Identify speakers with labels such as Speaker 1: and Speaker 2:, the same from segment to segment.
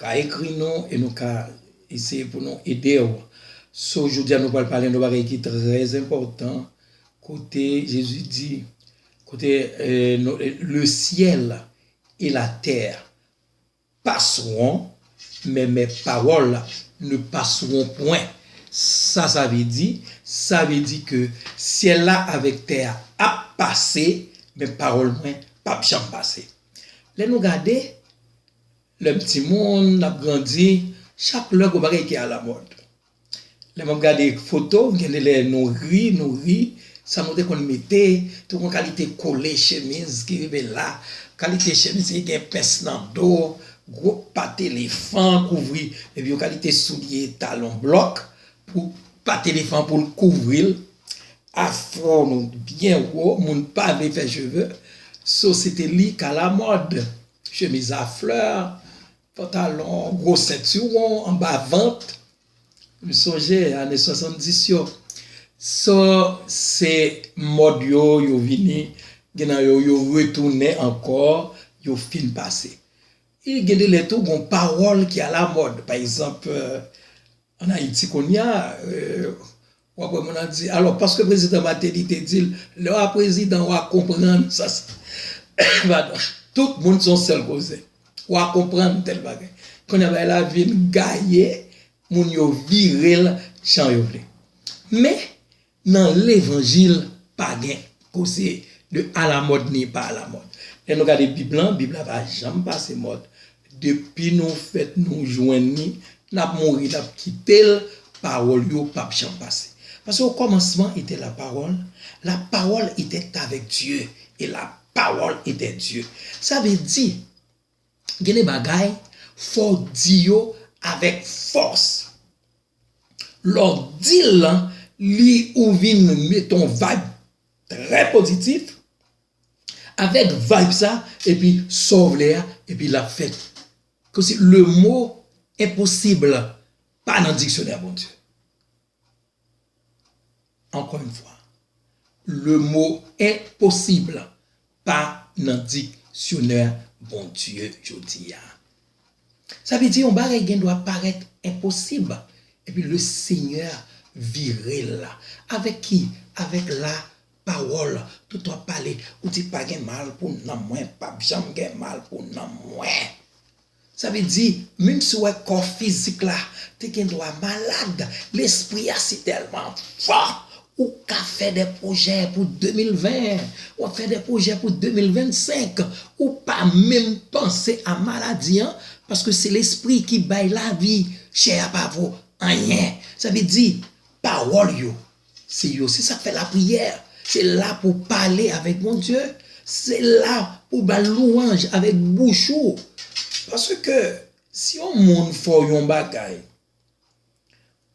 Speaker 1: ka ekri nou e nou ka eseye pou nou ede w. So jodi a nou pral pale yon bagay ki trè enpòtan kote Jezi di kote le syèl e la tè paswon men mè pawòl ne paswon pwen sa sa vle di sa vle di ke syèl la avèk tè a ap pase men pawòl mwen pap janm pase lè nou gade Lè m ti moun, n ap grandi, chak lè gon bagay ki alamòd. Lè m ap gade foto, gen de lè nou ri, nou ri, sa nou te konn mete, te konn kalite kole chemiz ki rive la, kalite chemiz ki gen pens nan do, gwo pat elefan kouvri, epi yon kalite soulye talon blòk pou pat elefan pou l kouvri l, afro nou byen wo, moun pa vle fè cheve, so se te li k alamòd. Chemiz a flè, pantalon, gwo sentiwon anba vant. M sonje ane 70 yo. Sa se mòd yo, yo vini. Gen nan yo, yo retounen ankò, yo fin pase. E gen de lè tou gon pawòl ki alamòd. Pa egzanp, an Ayiti kounye a, Wap wè moun ap di alò paske prezidan Martelly te dil lè wa prezidan wa konprann sa padon tout moun son sèl koze wa konprann tèl bagay kounya bagay la vin gaye moun yo virel jan yo vle men nan levanjil pa gen koze de alamòd ni pa alamòd lè nou gade bib lan bib la pa janm pase mòd Depi nou fèt nou jwenn li, nap mouri nap kitel, pawòl yo pap janm pase. Paske o kòmansman etè la pawòl, la pawòl etè avèk Dye, e la pawòl etè Dye. Sa vle di gen de bagay fòw di yo avèk fòs. Lèw dil lan li ou vin met on vayb trè pozitif. Avèk vibe sa epi Saw vle a epi lap fèt Kom si le mot impossible pa nan diksyonè Bondye Ankò yn fwa Le mot impossible pa nan diksyonè Bondye jodia Sa vle di yon bagay gen dwa parèt enposib epi le Senyè virel avèk ki avèk la Pawol tout wap pale ou di pa gen mal pou nanm mwen pap janm gen mal pou nanm mwen sa vle di minm si wè kò fizik la te gen dwa malad lespri a si telman fò ou ka fè de pwojè pou 2020 wap fè de pwojè pou 2025 ou pa minm panse a maladi an paske se lespri ki bay lavi chè a pa vo anyen sa vle di pawol yo Se yo, se sak fè lapriyè, se la pou w pale avèk Bondye, se la pou w ba l lwanj avèk bouch ou. Paske si yon moun fè w yon bagay,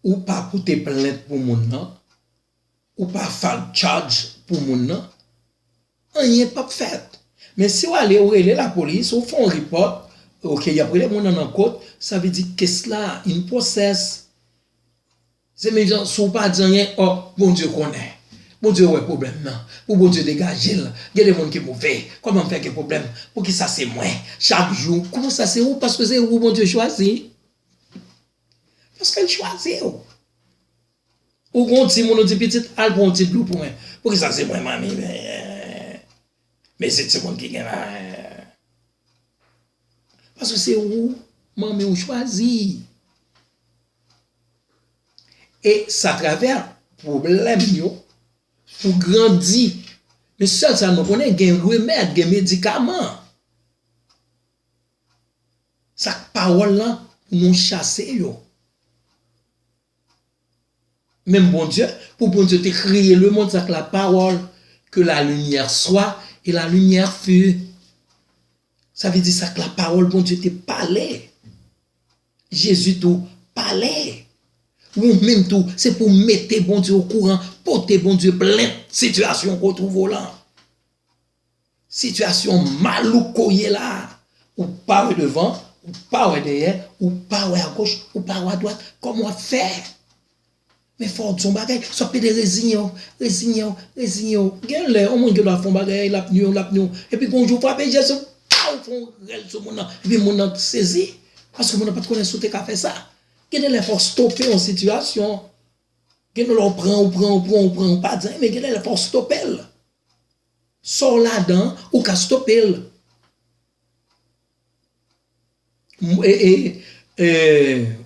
Speaker 1: ou pa pote plent pou moun nan, ou pa file charge pou moun nan, anyen p ap fèt. Men si w ale ou rele lapolis, ou fè yon report, ok y ap rele moun nan nan kot, sa vle di kes la in process. Zenmim jan si w pa di anyen oh Bondye konnen Bondye wè pwoblèm nan pou Bondye degaje l gen de moun ki move kòman m fè gen pwoblèm poukisa se mwen chak jou kòman sa se ou paske se ou Bondye chwazi paske l chwazi w ou gon ti moun ou di pitit al pran yon ti dlo pou mwen poukisa se mwen manmi mesi ti moun ki gen la paske se ou manmi ou chwazi. E sa travè pwoblèm yo pou grandi. Men sèl sa nou konnen gen remèd, gen medikaman. Sa k pawòl lan pou nou chase yo. Menm Bondye, pou Bondye te kreye lemond sa k la pawòl, ke la limyè swa e la limyè fut. Sa vle di sa k la pawòl Bondye te pale. Jezi tou pale! Wou menm tou se pou w mete Bondye okouran, pote Bondye plent sitiyasyon w ko twouve w lan. Sitiyasyon malouk ko ye la, ou pa wè devan, ou pa wè dèyè, ou pa wè agoch, ou pa wè adwat, kòman w ap fè? Men fòw di yon bagay, sou ap plede reziyew, reziyew, reziyew. Gen lè yon moun gen dwa fè yon bagay lap nwiw, lap nwiw, epi gon jou frape jès ou pow fon rèl sou moun nan, epi moun nan sezi, paske moun nan pat konnen si w te ka fè sa. Gen de lè fòw stope yon sitiyasyon, gen de lè w pran, ou pran, ou pran, ou pran, ou pa di anyen, men gen de lè fòw stopel. Sa w ladan an, ou ka stopel.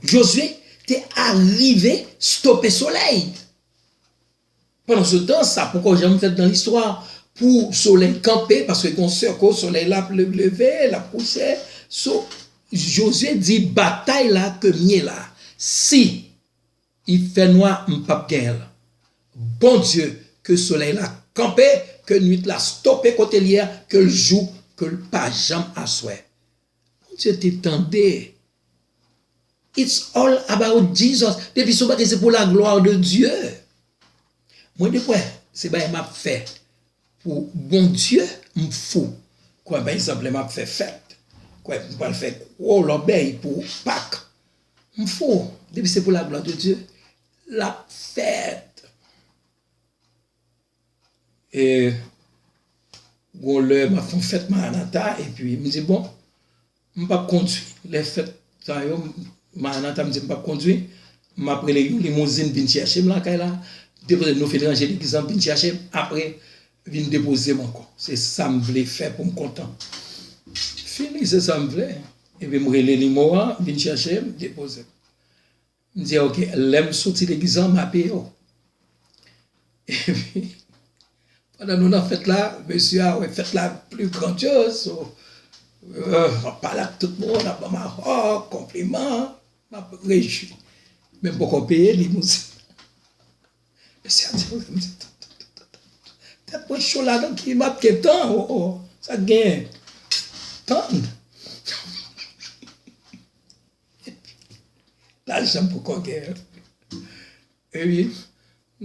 Speaker 1: Jozye te arive stope solèy. Pandan se tan sa poko janm fèt nan listwa pou solèy kanpe paske gon sèko solèy la ap leve, l ap kouche. So Jozye di batay la ke m ye la si. I fè nwa m pap genyenl. Bondye ke solèy la kanpe ke nwit la stope kotel ye a kel jou kel pa janm aswè Bondye te tande it's all about Jesus depi son bagay se pou la gloire de Dieu mwen de kwè se bagay map fè pou Bondye m fou kwè pa egzanp lè map fè fèt kwè m pwal fè gwo lòbèy pou pak. M fou depi se pou la glwa de Dye lap fèt. E gon lè map fon fèt maranata epi m di bon m pap kondwi lè fèt sa yo maranata m di m pap kondwi map rele yon limouzin vin chèche m lakay la depi nou fin ranje legliz lan vin chèche m apre Vin depozem ankò se sam vle fè poum kontan fini se sam vle epi m rele limo an vin chèchem depozem m di ok lèm soti degizan m abiye w epi pandan nou nan fèt la mesye a wè fèt la pli grandyoz so lap pale ak tout moun lap banm ahò konpliman map rejwi men m poko peye limouzin. Mesi a Dieu wi mwen Tet mwen cho la nan ki map gen tan oh oh sak gen Tann Lajan poko gen Epi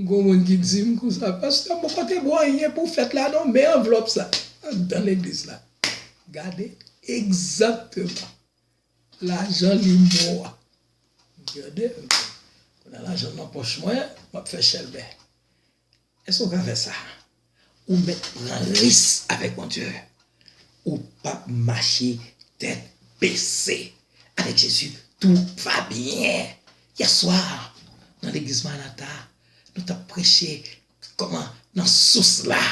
Speaker 1: gon moun ki dim konsa Pasteur m poko te bon anyen pou fet la non men anvlop sa andan legliz la Gade egzakteman Lajan limbo a. Gade un peu. Kounya lajan nan pòch mwen, map fè chèlbè. Èske ou ka fè sa? Ou mèt pran ris avèk Bondye. Ou pap mache tèt bese. Avèk Jezi, tou va byen. Yè swa, nan legliz Maranata, nou tap preche kòman nan sous la.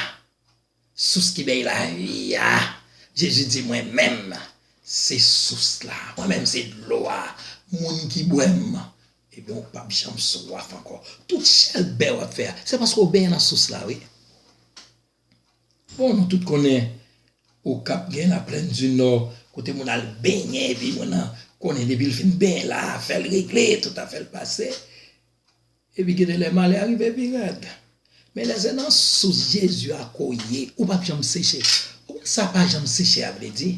Speaker 1: Sous ki bay lavi a. Jezi di mwen menm se sous la. Mwen menm se dlo a. Moun ki bwè m. Ebyen ou pap janm swaf ankò. Tout chèlbè wap fè a. Se paske ou benyen nan sous la wi. Bon nou tout konnen okap gen la plaine du nord kote moun al benyen epi moun nan konnen depil fin benyen la afèl regle tout afèl pase. Epi gede lè malè a rive pi rèd. Men lè se nan sous Jezi a ke w ye, ou pap janm seche. Ou konn sa pa janm seche a vle di?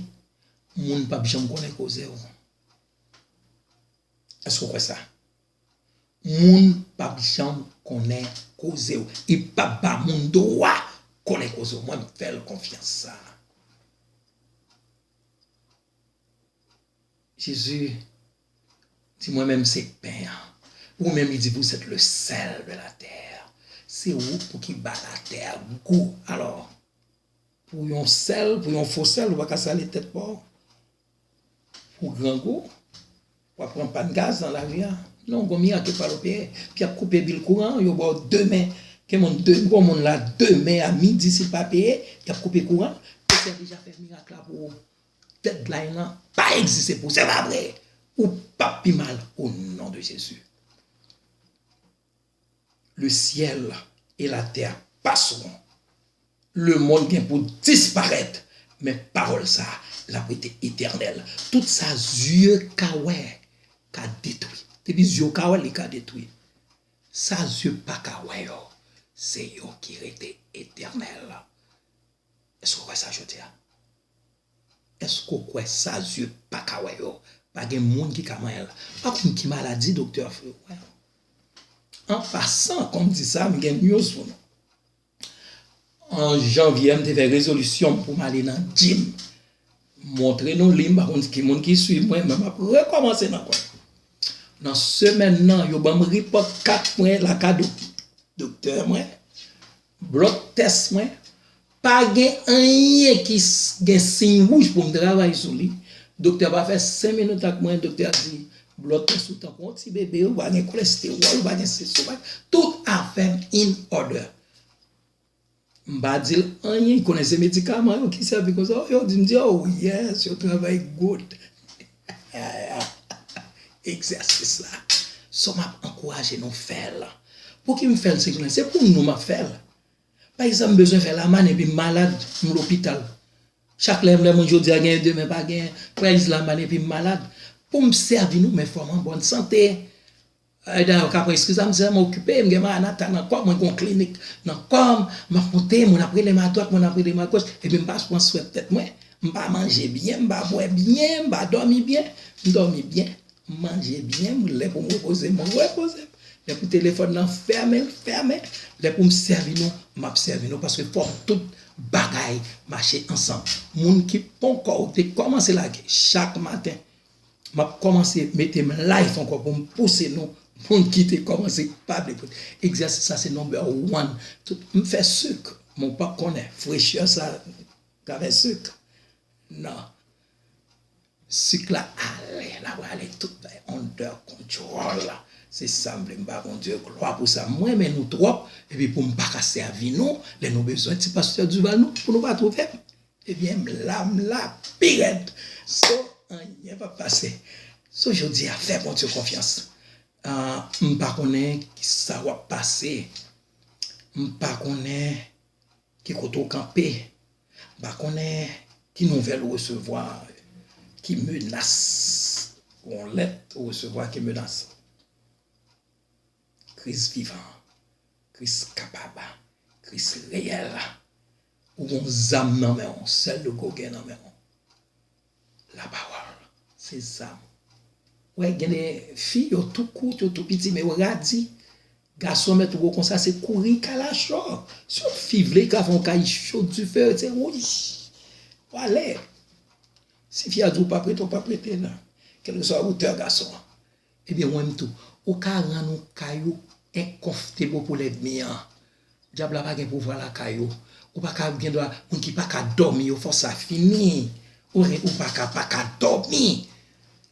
Speaker 1: Moun pap janm konnen koze w. Èske w kwè sa? Moun pap janm konnen koze w. E pap ba moun dwa konnen koze w. Mwen m fè l konfyans sa. Jezi Di mwen menm se pen an. Ou menm li di vous êtes le sel de la terre. Se ou pou ki ba la terre gou. Alò, pou yon sèl, pou yon fo sèl ou pa ka sale tèt pa w. Pou grangou, w ap pran pàn gaz nan lari a. Non, gon mirak yo pral opere. Pou y ap koupe bil kouran an, yo ba w demen. Gen moun, gon moun la demen a midi si l pa peye, y ap koupe kouran l. Doktè deja fè mirak la pou ou. Deadline lan pa egziste pou se pa vre ou pap pi mal o non de jezi le syèl e la tè passeront le mond gen pou disparèt men pawòl sa lap rete etènèl tout sa zye ka wè ka detwi depi zye w ka wè li ka detwi sa zye paka wè yo se yo ki rete etènèl. Èske w kwè sa jodi a? Èske w kwè sa zye pa ka wè yo? Pa gen moun ki ka manyen l. Pa konn ki maladi doktè a fè wè. An pasan, kòm di sa, m gen news pou nou. An janvye a, m te fè rezolisyon m pou m ale nan jim. M montre nou li, m pa konn ki moun ki suiv mwen, men m ap rekòmanse nan kò. Nan semèn nan, yo ban m ripòt kat mwen lakay doktè mwen. Blòk tès mwen pa gen anyen ki gen siy wouj pou m travay sou li. Doktè a pa fè sen minit ak mwen, doktè a di, Blòk tès ou tankou yon ti bebe, ou pa gen kolestewòl, ou pa gen sesi, ou pa gen, tout afè m in òdè. M pa di l anyen, konnen se medikaman yo ki sèvi konsa, yo di m di, oh yes, yo travay good. Egzèsis la so map ankouraje nou fèl. Pouki m fèl se jounen se pou nou map fèl. Pa egzanp m bezwen fè lamann epi m malad m lopital. Chak lè m lè mwen jodia genyen demen pa genyen. Fè egz lamann epi m malad. Poum sèvi nou men fòm an bòn sante. Dayè ou ka pran eskiz la, m se m okipe, m gen maranata nan kò m, mwen gen yon klinik nan kò m, m ap monte, moun ap rele m adwat, moun ap rele m agoch, epi m pa pran swen tèt mwen, m pa manje byen, m pa bwè byen, m pa dòmi byen, m dòmi byen, m manje byen, m lè pou m repoze m, m repoze m, lè pou telefòn nan fèmen, l fèmen, lè pou m sèvi nou, m ap sèvi nou paske fòk tout bagay mache ansanm. Moun ki ponkò ou te kòmanse lage chak maten. Map komanse metem life anko poum pouse nou moun kite komanse pa vle koute egzèsis sa se number one tout m fè suk men w pap konnen frechè sa kafè suk nan suk la ale la prale tout bay under control se sam vle m ba Bondye glwa pou sa m renmen nou trop epi poum paka sèvi nou lè nou bezwen ti pastè Duval nou pou nou pa trouvem. Ebyen m la m la pi rèd so anyen pap pase so jodia fè Bondye konfyans m pa konnen kisa wap pase m pa konnen ki kote ou kanpe m pa konnen ki nouvèl ou resevwa ki menas yon lèt ou resevwa ki menas. Kris vivan, Kris kapab, Kris reyèl. Ou gen yon zam nan men w, sèl nou ko gen nan men w. Lapawòl se zam ou. Wè gen de fi yo tou kout, yo tou piti men yo radi. Gason mèt wè w konsa se kouri kalachò. Si yon fi vle li ka fè yon kay cho dife rete wouy. Wale. Si fi a di w pa prete w pa prete nan. Kèlkeswa wotè gason an. Ebyen mwen m tou. Ou ka rann ou kay ou incomfortable pou lèdmi an. Dyab la pa gen pouvwa lakay ou. Ou pa ka gen dwa moun ki pa ka dòmi yo fò sa fini. Ou gen ou pa ka pa ka dòmi.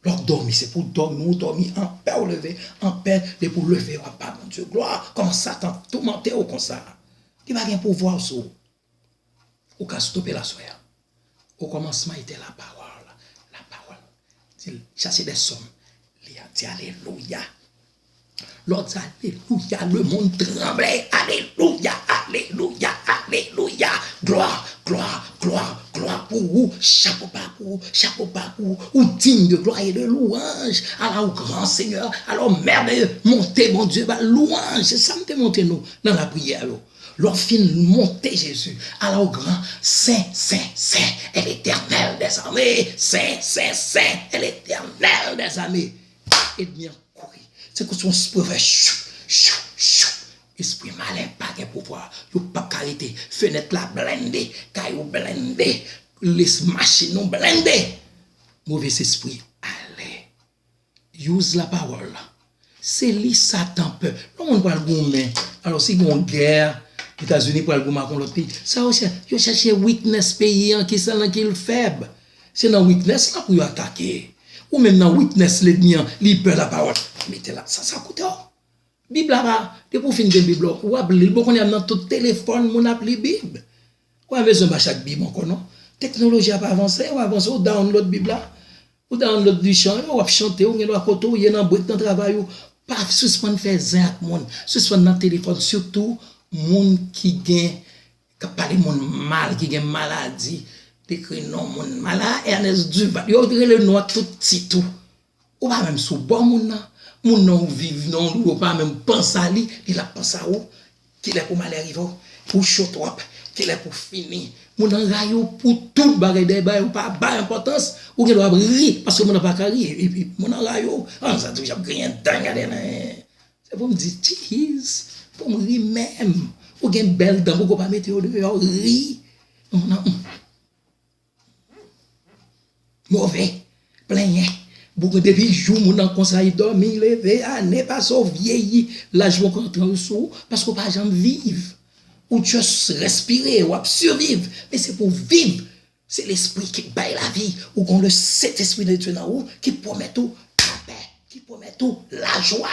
Speaker 1: Lè w ap dòmi se pou w dòmi ou dòmi anpè ou leve anpè depi ou leve w ap ba Bondye glwa kòman Satan ap toumante w konsa. Li pa gen pouvwa sou ou. Ou ka stope la soya. O kòmansman ete la pawòl, la pawòl. Di l, chase dè sòm. Li ap di alelouya. Lè w di alelouya, lemonn tranble. Alelouya, alelouya, alelouya. Glwa, glwa, glwa, glwa pou ou. Chapo ba pou ou, chapo ba pou ou. Ou digne de glwa e de louwanj. Ala ou gran senyè, ala ou mèveye. Monte Bondye, ba l louwanj. Se sa m te montre nou nan lapriyè yo. Lè w fin monte Jezi, ala w gran, Sen, sen, sen è Letènèl dè zame, Sen, sen, sen è Letènèl dè zame. Edmi an kouri. Se kou si yon espri fè chou, chou, chou. Espri malen pa gen pouvwa. Yo pap ka rete. Fenèt la blende. Kay ou blende. Lès machin ou blende. Movesespri ale. Use la pawòl la. Se li satan pè. Lè yon moun pral goumen, alò si gen yon gè, Etazini pral goumen ak yon lòt peyi, sa yo chè, yo chèche weakness peyi an ki sa nan ki l fèb. Se nan weakness la pou yo atake. Ou menm nan weakness ledmi an, li pè la pawòl. Mete la, sa sa koute w? Bib la pa, depi ou fin gen bib la ou ap lil bon kounya nan tout telefòn moun ap li bib. Ou pa bezwen ba chak bib ankò non. Teknoloji ap avanse, ou avanse ou download bib la, ou download li chan yo, wap chante ou gen dwa kote ou ye nan brik nan travay ou, pa sispann fè zen ak moun, sispann nan telefòn sitou moun ki gen kap pale moun mal ki gen maladi, ekri non moun mal, ah Ernest Duval, yo rele nou ak tout tit ou. Ou pa menm sou bò moun nan, moun nan ou viv nan ou pa menm panse a li, li lap panse a ou, kilè pou malè rive w, ou cho twòp, kilè pou fini, moun nan rayi w pou tout bagay dèyè bagay ou pa bay enpòtans, ou gen dwa ap ri paske moun nan pa ka ri epi moun nan rayi w, an sa toujou ap griyen dan gade nan ee, se pou m di tchiiz pou m ri menm, ou gen bèl dan pouki w pa mete yo deyò ri, moun nan humm. Move, plenyen, bouke depi jou moun nan konsa li dòmi, leve, ane pase ou vyeyi, laj yo pran tranl sou ou paske ou pa janm viv. Ou just respire, wap surviv men se pou viv se lespri ki bay lavi ou gon le Sentespri de Dye nan ou ki pwomèt ou lapè, ki pwomèt ou lajwa.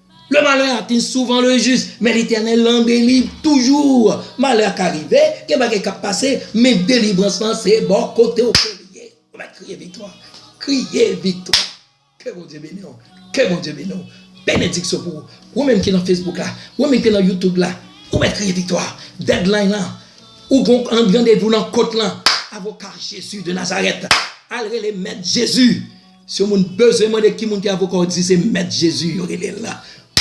Speaker 1: Le malè atin souvan le jis, men Letènèl lan beni toujou. Malè ka rive, gen bagay k'ap pase, men delivrans lan se bò kote w ke li ye. Ou mèt kriye viktwa, kriye viktwa. Ke Bondye beni w, ke Bondye beni w. Benediksyon pou ou. Ou menm ki nan Facebook la, ou menm ki nan YouTube la, ou mèt kriye viktwa. Deadline lan, ou gon randevou nan kot lan. Avoka Jezi de Nazarèt, al rele Mèt Jezi. Si yon moun bezwen mande ki moun ki avoka w di se mèt Jezi yo rele l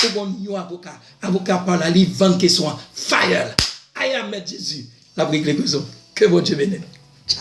Speaker 1: ou bon yon avoka avoka pa w la li vann kesyon an fire l aya mèt Jezi lap regle koze w ke Bondye beni nou tcha.